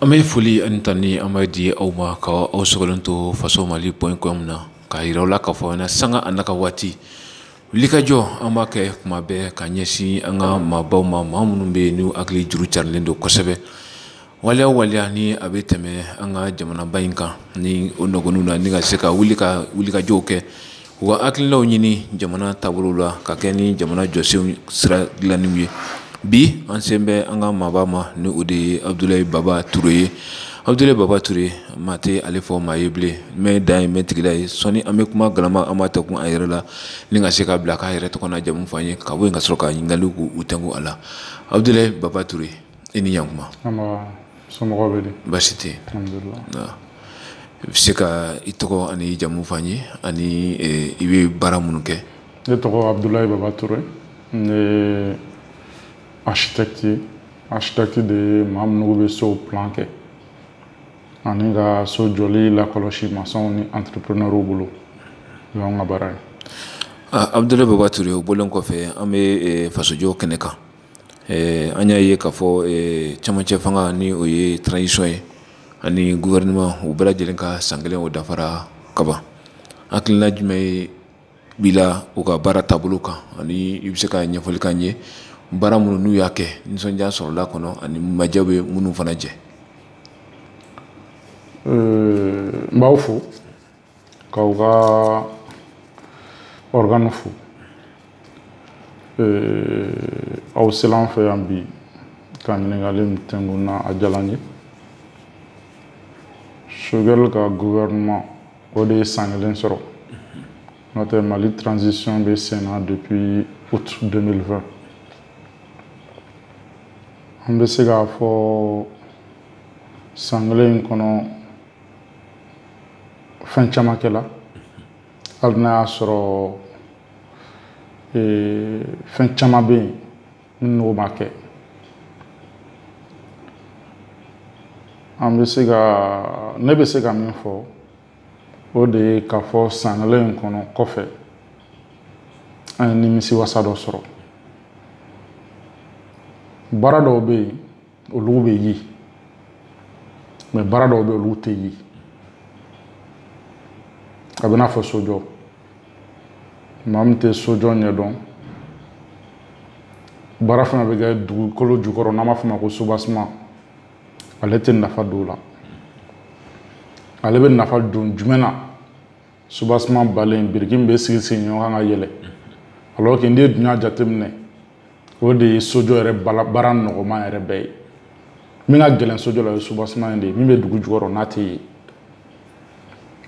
an bɛ foli ani tanuni an b'a di aw ma ka aw sɔgɔlen to faso mali point com na k'a yira aw la k'a fɔ na sanga a na ka waati wulikajɔ an b'a kɛ kuma bɛɛ ka ɲɛsin an ka maabaw ma maa minnu bɛ yen n'u hakili juru carilen don kosɛbɛ waleya waleya ni a bɛ tɛmɛ an ka jamanaba in kan ni o nɔgɔninw na ni ka se ka wuli ka wulikajɔw kɛ u ka hakilinaw ɲini jamana taabolo la ka kɛ ni jamana jɔsenw sira dilanniw ye bi an sen bɛ an ka maaba ma ni o de ye abudulayi baba ture ye abudulayi baba ture maa tɛ ale fɔ maa ye bilen mɛ dan ye mɛ tigila ye sɔni an bɛ kuma galama an b'a tɛnkun a yɛrɛ la ni ka se k'a bila k'a yɛrɛ tɔgɔ n'a jamu fɔ an ye ka bɔ yen ka sɔrɔ ka ɲininkaliw k'u tɛnkun a la abudulayi baba ture i ni yankuma somɔgɔw bɛ di baasi tɛ i bɛ se ka i tɔgɔ ani jamu fɔ an ye ani eh, i bɛ baara minnu kɛ ne tɔgɔ abudulayi baba ture ne ye architecte ye architecte de ye maa minnu bɛ sow plan kɛ ani ka so jɔli lakɔlɔsi masɔnw ni entrepreneurw bolo o y'anw ka baara ye ah, abudulayi baba ture o bɔlen kɔfɛ an bɛ eh, fasojɔ kɛnɛ kan eh, an y'a ye k'a fɔ eh, camancɛ fanga ni o ye transition ye ani gouvernement u bɛɛ lajɛlen ka san kelen o dafara kaban hakilina jumɛn de b'i la u ka baara taabolo kan ani i bɛ se ka ɲɛfɔli k'an ye baara minnu n'u y'a kɛ nisɔndiya sɔrɔla kɔnɔ ani majɛ bɛ minnu fana jɛ n b'aw fo k'aw ka organe fo aw sela an fɛ yan bi ka ɲininkali min tɛnkun n na a diyala n ye sogɛli ka gouvernement o de ye san kelen sɔrɔ n'o tɛ mali transition bɛ sen na depuis août 2020 an bɛ se k'a fɔ san kelen in kɔnɔ fɛn caman kɛla hali n'a y'a sɔrɔ fɛn caman bɛ yen n'olu ma kɛ an bɛ se ka ne bɛ se ka min fɔ o de ye k'a fɔ san kelen in kɔnɔ kɔfɛ an ye nimisiwasa dɔ sɔrɔ baara dɔw bɛ yen olu bɛ ye mais baara dɔw bɛ olu tɛ ye a bɛ n'a fɔ sojɔ maa min tɛ sojɔ ɲɛdɔn baara fana bɛ kɛ dugukolo jukɔrɔ n'an b'a fɔ o ma ko soubassement ale tɛ nafa don o la ale bɛ nafa don jumɛn na soubassement banlen biriki min bɛ sigi sigi ɲɔgɔn kan ka yɛlɛ alors que n'i ye dunya jateminɛ o de ye sojɔ yɛrɛ baara nɔgɔman yɛrɛ bɛɛ ye min ka gɛlɛn sojɔ la o ye soubassement in de ye min bɛ dugu jukɔrɔ n'a tɛ ye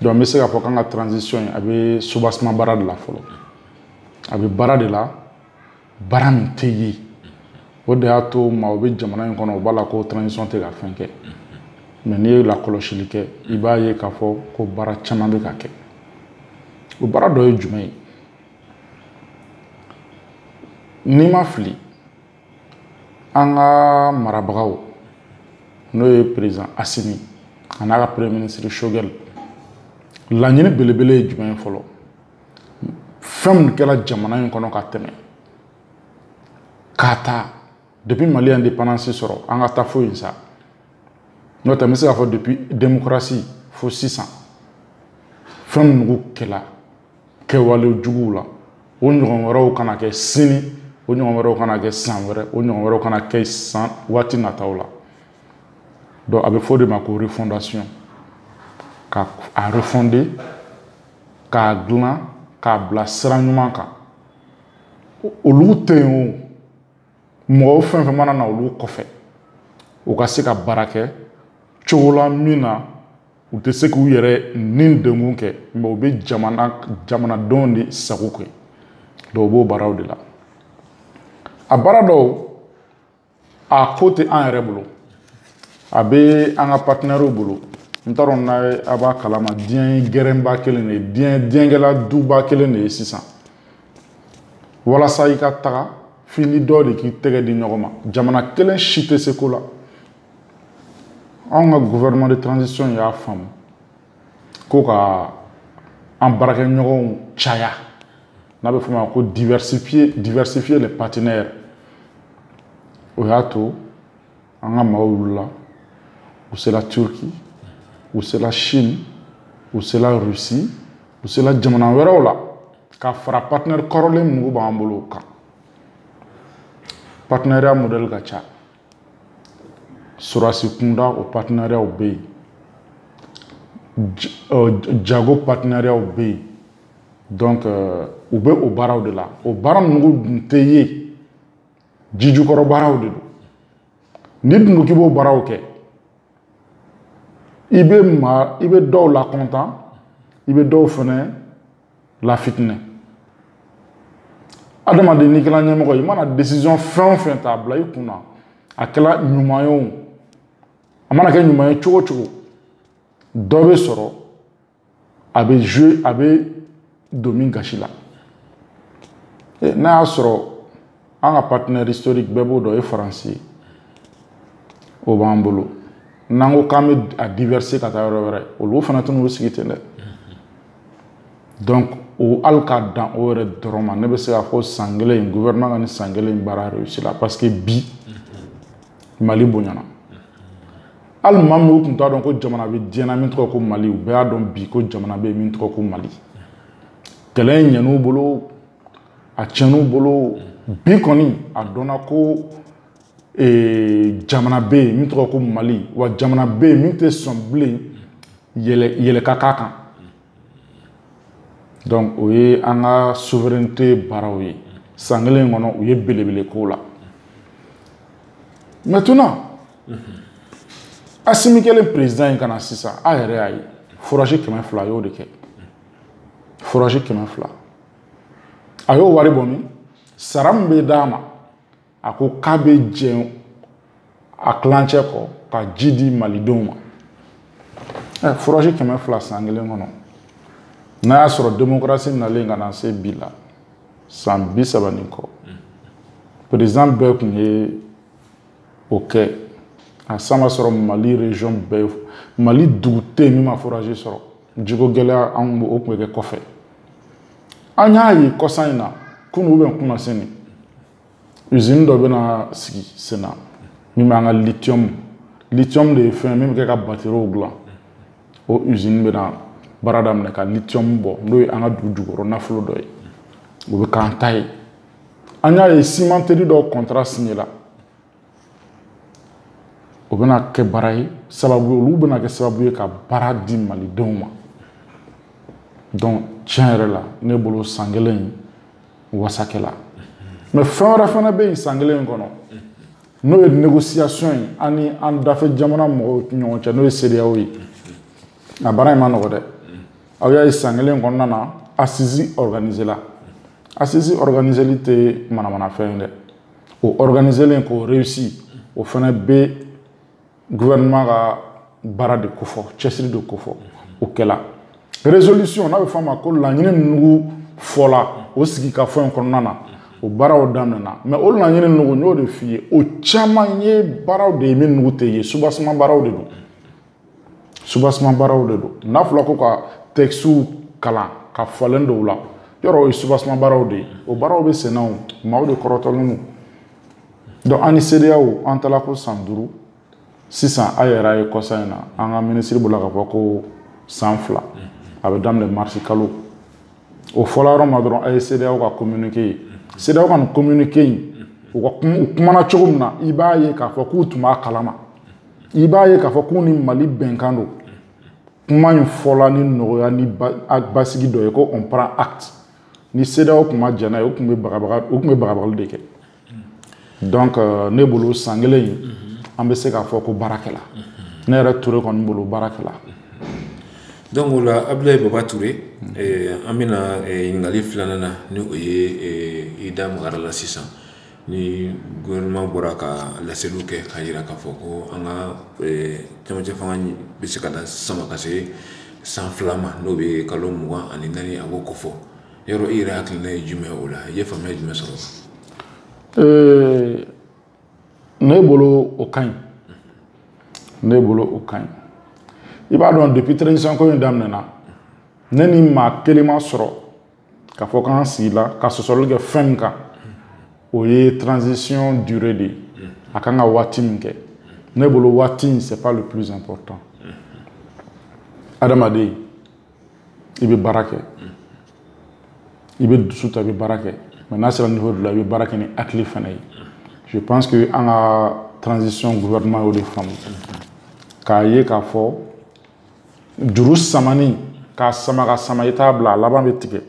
donc n bɛ se k'a fɔ k'an ka transition in a bɛ soubassement baara de la fɔlɔ a bɛ baara de la baara min tɛ ye o de y'a to maaw bɛ jamana in kɔnɔ o b'a la ko transition tɛ ka fɛn kɛ mais n'i ye lakɔlɔsili kɛ i b'a ye k'a fɔ ko baara caman bɛ ka kɛ o baara dɔ ye jumɛn ye n'i ma fili an ka marabagaw n'o ye président assimi an'a ka premier ministre choguel laɲini belebele ye jumɛn ye fɔlɔ fɛn min kɛra jamana in kɔnɔ ka tɛmɛ k'a ta depuis mali ye indépendance sɔrɔ an ka taa fo yen sa n'o tɛ n bɛ se k'a fɔ depuis démocratie fo sisan fɛn minnugu kɛla kɛwale juguw la o ɲɔgɔn wɛrɛw kana kɛ sini o ɲɔgɔn wɛrɛw kana kɛ san wɛrɛ o ɲɔgɔn wɛrɛw kana kɛ san waati nataw la donc a bɛ fɔ o de ma ko refondation ka a refonder k'a dilan k'a bila sira ɲuman kan olu tɛ yen o mɔgɔw fɛn fɛn mana na olu kɔfɛ u ka se ka baara kɛ cogo la min na u tɛ se k'u yɛrɛ nidungɔ kɛ mais u bɛ jamana jamanadenw de sago kɛ donc u b'o baaraw de la a baara dɔw a ko tɛ an yɛrɛ bolo a bɛ an ka partenairew bolo n t'a dɔn n'a a b'a kalama diɲɛ gɛrɛnba kelen de ye diɲɛ diɲɛ kɛla duba kelen de ye sisan walasa i ka taga f'i ni dɔ de k'i tɛgɛ di ɲɔgɔn ma jamana kelen si tɛ se ko la anw ka gouvernement de transition y'a faamu ko ka an baarakɛɲɔgɔnw caya n'a bɛ f'o ma ko diversifier diversifier les partenaires o y'a to an ka maaw wulila u sera turquie u sera chine u sera russie u sera jamana wɛrɛw la ka fara partenaire kɔrɔlen minnugu b'an bolo o kan partenariat modèle ka ca sorasi kunda o partenariatw bɛ yen jago partenariatw bɛ yen donc u bɛ o baaraw de la o baara ninnu dun tɛ ye ji jukɔrɔ baaraw de don n'i dun ko k'i b'o baaraw kɛ i bɛ maa i bɛ dɔw lakɔntan i bɛ dɔw fɛnɛ lafitinɛ adamaden n'i kɛra ɲɛmɔgɔ ye i mana décision fɛn o fɛn ta a bila i kun na a kɛra ɲuman ye o a mana kɛ ɲuman ye cogo o cogo dɔ bɛ sɔrɔ a bɛ jouer a bɛ don min gasi la eh, n'a y'a sɔrɔ an ka partenaire historique bɛɛ b'o dɔn o ye faransi ye o b'an bolo n'an ko k'an bɛ a diverser ka taa yɔrɔ wɛrɛ olu fana tɛna u sigi ten dɛ donc o hali k'a dan o yɛrɛ dɔrɔn ma ne bɛ se k'a fɔ san kelen in gouvernement ka nin san kelen in baara réussi la parce que bi mali bonyana hali maa min tun t'a dɔn ko jamana bɛ diɲɛ na min tɔgɔ ko mali u bɛɛ y'a dɔn bi ko jamana bɛ yen min tɔgɔ ko mali kɛlɛ in ɲɛn'u bolo a tiɲɛn'u bolo bi kɔni a dɔnna ko jamana bɛ yen min tɔgɔ ko mali wa jamana bɛ yen min tɛ sɔn bilen yɛlɛ ka k'a kan donc o ye an ka souveraineté baaraw ye san kelen kɔnɔ u ye belebele k'o la maintenant asimi kɛlen président ye ka na sisan a yɛrɛ y'a ye forage kɛmɛ fila a y'o de kɛ forage kɛmɛ fila a y'o wari bɔ min sara min bɛ d'a ma a ko k'a bɛ jɛn a tilancɛ kɔ ka ji di malidenw ma ɛ forage kɛmɛ fila san kelen kɔnɔ n'a y'a sɔrɔ démocratie nalen ka na se bi la san bi saba ni kɔ président bɛɛ tun ye o kɛ a san b'a sɔrɔ mali region bɛɛ mali dugu tɛ yen min ma forage sɔrɔ jiko gɛlɛya an o tun bɛ kɛ kɔfɛ an y'a ye kɔsan in na kunu ou bien kunasini usine dɔ bɛna sigi sen na min b'an ka lithium lithium de ye fɛn min bɛ kɛ ka batteries dilan o usine bɛna baara daminɛ ka lithium bɔ n'o ye an ka dugu jukɔrɔ nafolo dɔ ye o bɛ k'an ta ye an y'a ye cimenterie dɔw contrat signé la o bɛna kɛ baara ye sababu ye olu bɛna kɛ sababu ye ka baara di malidenw ma donc tiɲɛ yɛrɛ la ne bolo san kelen in wasa kɛla mais fɛn wɛrɛ fana bɛ yen san kelen in kɔnɔ n'o ye négociation ye an ni an dafɛ jamana mɔgɔw ɲɔgɔn cɛ n'o ye CEDEAO ye a baara in ma nɔgɔ dɛ aw y'a ye san kelen kɔnɔna na assises organisé la assises organiséli tɛ manamanafɛn ye dɛ o organisélen k'o réussi o fana bɛ gouvernement ka baara de kofɔ cɛsiri de kofɔ o kɛla résolution n'a bɛ fɔ a ma ko laɲini nugu fɔla o sigikafɔ in kɔnɔna na o baaraw daminɛna mais o laɲini nugu n y'o de f'i ye o caman ye baaraw de ye min nugu tɛ ye soubassement baaraw de don soubassement baaraw de don n'a fɔla ko ka tɛkisiw kalan ka falen dɔw la yɔrɔ o ye soubassement baaraw de ye o baaraw bɛ senna o maaw de kɔrɔtɔlen don donc an ni CEDEAO an taala ko san duuru sisan a yɛrɛ a ye kɔsa in na an ka minisiri bɔla ka fɔ ko san fila a bɛ daminɛ marisi kalo o fɔla yɔrɔ ma dɔrɔn a ye CEDEAO ka communiqué ye CEDEAO ka nin communiqué in u ka u kumana cogo min na i b'a ye k'a fɔ k'u tun b'a kalama i b'a ye k'a fɔ k'u ni mali bɛnkan don kuma in fɔla ni nɔgɔya ni basigi dɔ ye ko on prend acte ni CEDEAO tun ma jɛn n'a ye o tun bɛ bagabaga o tun bɛ bagabagali de kɛ donc euh, ne bolo san kelen in an bɛ se k'a fɔ ko baara kɛla ne yɛrɛ ture kɔni bolo baara kɛla donc o la abdulayi baba ture eh, an bɛna eh, ɲininkali filanan na ni o ye eh, i da magara la sisan ni gouvernement bɔra ka laseliw kɛ k'a jira k'a fɔ ko an ka camancɛ fanga bɛ se ka lasama ka se san fila ma n'o bɛ kalo mugan ani naani a b'o kofɔ yɔrɔ i yɛrɛ hakilina ye jumɛn o la i ye faamuya jumɛn sɔrɔ ne bolo o ka ɲi ne bolo o ka ɲi i b'a dɔn depuis transition ko in daminɛna ne ni maa kelen ma sɔrɔ ka fɔ k'an sigila ka sɔsɔli kɛ fɛn min kan o ye transition durée de ye a kan ka waati min kɛ ne bolo waati in c'est pas le plus important adamaden i bɛ baara kɛ i bɛ dusu ta i bɛ baara kɛ mais n'a sera niveau dɔ la i bɛ baara kɛ ni hakili fana ye je pense que an ka transition gouvernement y'o de faamu k'a ye k'a fɔ juru samani k'a sama ka sama i t'a bila a laban bɛ tigɛ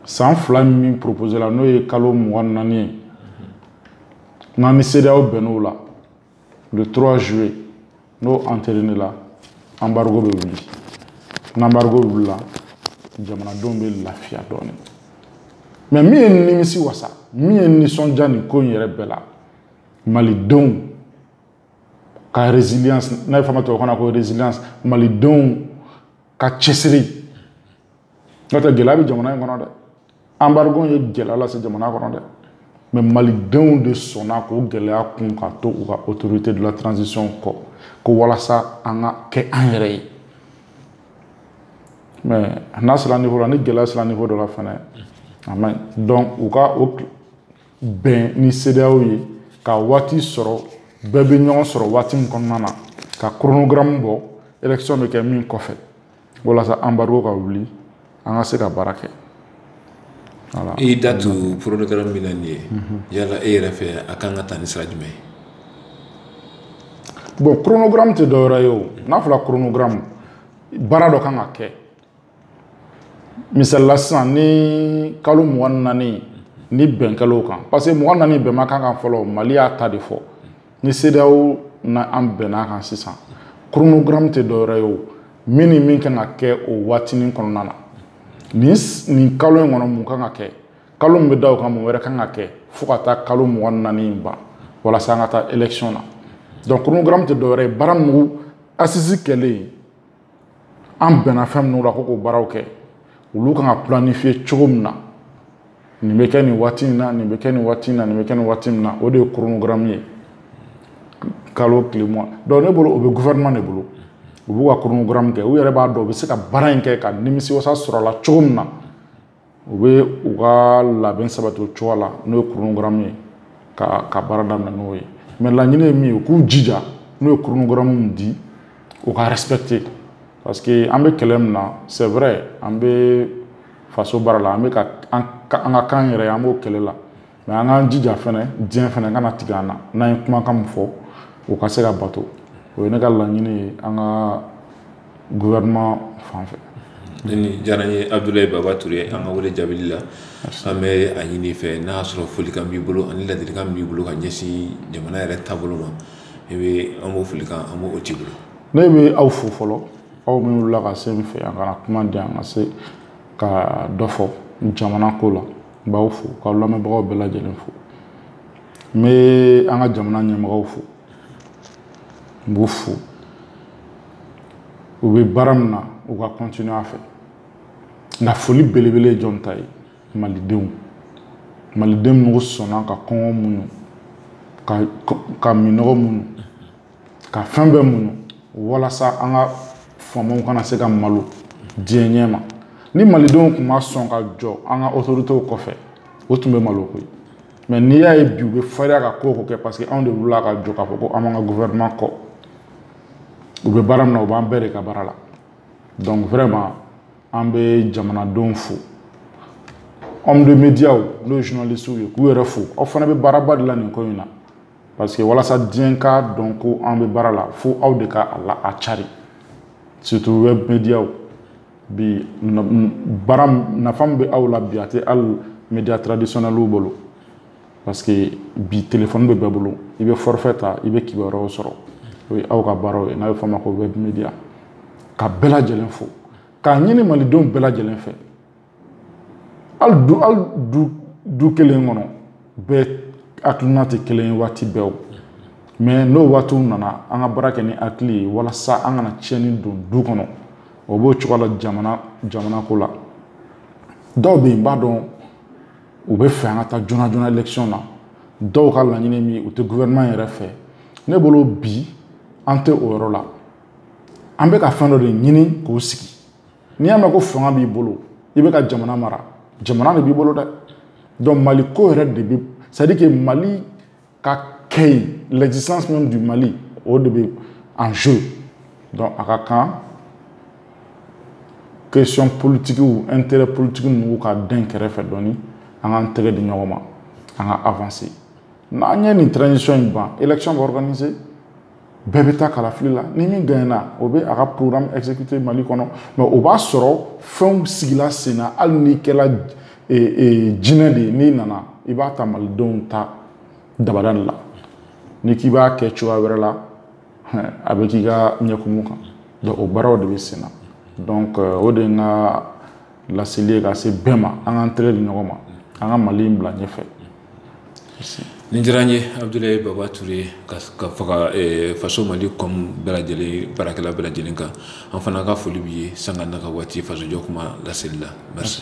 san fila min proposé la n'o ye kalo mugan naani ye n'an ni CEDEAO bɛnn'o la le 3 juillet n'o entériné la embargo bɛ wuli n'embargo wulila jamanadenw bɛ lafiya dɔɔni mais min ye nimisiwasa min ye nisɔndiya nin ko in yɛrɛ bɛɛ la malidenw ka résilience n'a bɛ fɔ a ma tubabukan na ko résilience malidenw ka cɛsiri n'o tɛ gɛlɛya bɛ jamana in kɔnɔ dɛ embargo ye gɛlɛya lase jamana kɔnɔ dɛ mais malidenw de sɔnna k'o gɛlɛya kun ka to u ka autorité de la transition kɔ ko walasa an ka kɛ an yɛrɛ ye mais n'a sera niveau la ni gɛlɛya sera niveau dɔ la fana a man ɲi donc u ka o bɛn ni sedeyaw ye ka waati sɔrɔ bɛɛ bɛ ɲɔgɔn sɔrɔ waati min kɔnɔna na ka kronogaramu bɔ election bɛ kɛ min kɔfɛ walasa anbarigo ka wuli an ka se ka baara kɛ i y'i da tu kronogaramu min na nin ye yala e yɛrɛ fɛ a kan ka taa ni sira jumɛn ye bon kronogaramu tɛ dɔwɛrɛ ye o n'a fɔra kronogaramu baara dɔ kan ka kɛ misalila sisan ni kalo mugan ni naani ni bɛn kɛl'o kan parce que mugan naani bɛn ma k'a kan fɔlɔ mali y'a ta de fɔ ni sedeyaw n'an bɛnn'a kan sisan chronogramme tɛ dɔwɛrɛ ye o min ni min kan ka kɛ o waatinin kɔnɔna na nin nin kalo in kɔnɔ mun kan ka kɛ kalo min bɛ da o kan mun wɛrɛ kan ka kɛ fo ka taa kalo mugan ni naani in ban walasa an ka taa élection na donc chronogramme tɛ dɔwɛrɛ ye baara minnu assises kɛlen an bɛnna fɛn minnu la ko k'o baaraw kɛ olu kan ka planifiye cogo min na nin bɛ kɛ nin waati in na nin bɛ kɛ nin waati in na nin bɛ kɛ nin waati min na o de ye koronogaramu ye kalo tile mugan dɔnku ne bolo o bɛ gouvernement de bolo u b'u ka koronogaramu kɛ u yɛrɛ b'a dɔn u bɛ se ka baara in kɛ ka nimisiwasa sɔrɔ a la cogo min na u bɛ u ka labɛn sabati o cogo la n'o ye kurunugaramu ye ka baara daminɛ n'o ye mɛ laɲini ye min ye u k'u jija n'u ye kurunugaramu min di u k'a respecter parce que an bɛ kɛlɛ min na c'est vrai an bɛ faso baara la an bɛ ka an ka kan yɛrɛ an b'o kɛlɛ la mɛ an k'an jija fɛnɛ diɲɛ fɛnɛ kana tigɛ an na n'an ye kumakan min fɔ o ka se ka bato o ye ne ka laɲini ye an ka gouvernement fan fɛ nin diyara n ye abdulayi baba ture an ka wele jaabili la an bɛ a ɲini i fɛ n'a y'a sɔrɔ folikan b'i bolo ani ladilikan b'i bolo ka ɲɛsin jamana yɛrɛ taabolo ma i bɛ an b'o folikan an b'o t'i bolo ne bɛ aw fo fɔlɔ aw minnu wulila ka se n fɛ yan ka na kuma di yan ka se ka dɔ fɔ jamana ko la n b'aw fo k'aw lamɛnbagaw bɛɛ lajɛlen fo n bɛ an ka jamana ɲɛmɔgɔw fo n b'u fo u bɛ baara min na u ka kɔntinu a fɛ nka foli belebele ye jɔn ta ye malidenw maliden minnu sɔnna ka kɔngɔ muɲu ka minɔgɔ muɲu ka fɛn bɛɛ muɲu walasa an ka faamaw kana se ka malo diɲɛ ɲɛ ma ni malidenw tun ma sɔn ka jɔ an ka otoritew kɔfɛ u tun bɛ malo koyi mɛ n'i y'a ye bi u bɛ fariya ka ko o ko kɛ parce que anw de wulila ka jɔ k'a fɔ ko an b'an ka gouvernement kɔ u bɛ baara min na u b'an bɛɛ de ka baara la donc vraiment an bɛ jamanadenw fo homme de médiaw n'o ye journalistes ye k'u yɛrɛ fo aw fana bɛ baaraba de la nin ko in na parce que walasa diɲɛ k'a dɔn ko an bɛ baara la fo aw de ka a la a cari surtout web mediaw bi baara nafa min bɛ aw la bi a tɛ hali media traditionnels bolo parce que bi téléphone bɛ bɛɛ bolo i bɛ forfait ta i bɛ kibaruyaw sɔrɔ o ye aw ka baaraw ye n'a bɛ fɔ a ma ko web media ka bɛɛ lajɛlen fo k'a ɲini malidenw bɛɛ lajɛlen fɛ hali du kelen kɔnɔ bɛɛ hakilina tɛ kelen ye waati bɛɛ o mais n'o waatiw nana an ka baara kɛ ni hakili ye walasa an kana tiɲɛni don du kɔnɔ o b'o cogo la jamana ko la dɔw bɛ yen n b'a dɔn u bɛ fɛ an ka taa joona joona élection na dɔw ka laɲini min u tɛ gouvernement yɛrɛ fɛ ne bolo bi an tɛ o yɔrɔ la an bɛ ka fɛn dɔ de ɲini k'o sigi n'i y'a mɛn ko fanga b'i bolo i bɛ ka jamana mara jamana de b'i bolo dɛ donc mali ko yɛrɛ de bɛ c'est à dire que mali ka kɛ yen l'existence même du mali o de bɛ en jeu donc a ka kan question politikiw intérêt politiki ninnu ka dɛn kɛrɛfɛ dɔɔni an k'an tɛgɛ di ɲɔgɔn ma an ka avancer n'an ye nin transition in ban élection bɛ organiser bɛɛ bɛ taa kalafili la ni min gagnena o bɛ a ka programme exécuter mali kɔnɔ mais o b'a sɔrɔ fɛnw sigila sen na hali n'i kɛla jinɛ de ye n'i nana i b'a ta malidenw ta dabada de la n'i k'i b'a kɛ cogoya wɛrɛ la a bɛ k'i ka ɲɛkumu kan donc o baaraw de bɛ sen na donc euh, o de ye n ka laseli ye ka se bɛɛ ma an k'an tɛgɛ di ɲɔgɔn ma an ka mali in bila ɲɛfɛ nin diyara n ye abudulayi baba ture ka fara eh, faso mali com bɛɛ lajɛlen baarakɛla bɛɛ lajɛlen kan an fana ka foli b'i ye sanga n'a ka waati fasojɔ kuma laseli la merci